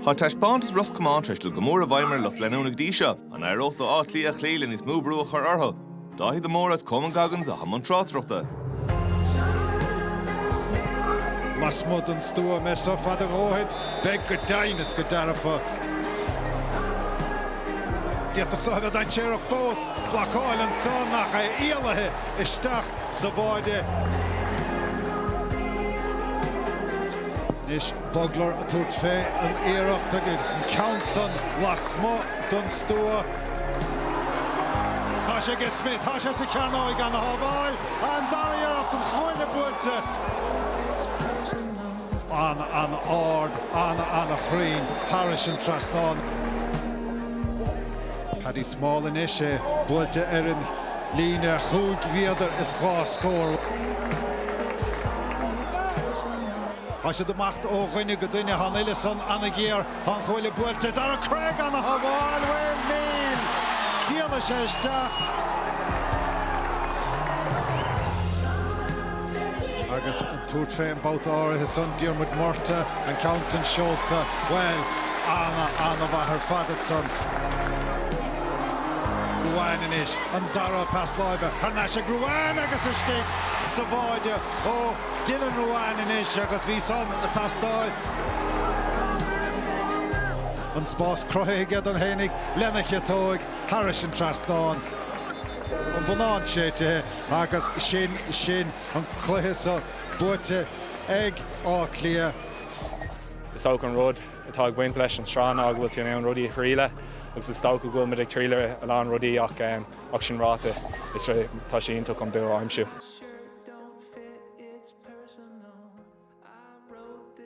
Tá taispeántas Ros Comáin tar éis dul go mór i bhfeidhm ar lucht leanúna go dtí seo. An éireoidh leo Áth Cliath a chloí agus níos mó brú a chur orthu? Dáithí de Mórdha agus Coman Goggins i mbun na tráchtaireachta. Lasmuigh den stua b'fhéidir so fada dhóibh, beidh go deimhin is go dearfa. D'fhéadfadh sé a bheith dainséarach fós. Blocáil ansan ach é ialaithe. isteach sa pháid. Anois Bugler ag tabhairt fé an iarracht agus an ceann san lasmuigh don stua. Tá sé aige Smith, tá sé sa chearnóig á shábháil. An dara iarracht an cuaille buailte. Ana-ard, ana-chruinn thairis an trasnán. Paddy Small anois, é buailte ar an. Líne chúig mhéadar is dhá scór. Thá siad ag imeacht ó dhuine go duine. Thá an uillinn san ana-ghéar. Thá an chuaille buailte ag Darragh Craig á shábháil. Wayne Milne, díoladh sé isteach. Agus Ag tabhairt fén mbabhta áirithe san, Diarmuid Murtagh, an ceann san seolta, bhuel, ana, ana mhaith ar fad uaidh san. Ruane anois, an dara pas láimhe thar n-ais ag Ruane agus isteach sa pháid ó Dylan Ruane anois agus bhí san ag teastáil. An spás cruthaithe aige dó fhéinig lena chiotóig thairis an trasnán. An bonnán séidte agus sin sin. an cluiche seo buaite ag Áth Cliath. Is dócha an rud atá ag baint leis an tsraith ná go bhfuil tú in ann rudaí a thriaileadh agus is dócha go bhfuil muid ag triaileadh a lán rudaí ach ach sin ráite tá sé iontach an bua a aimsiú.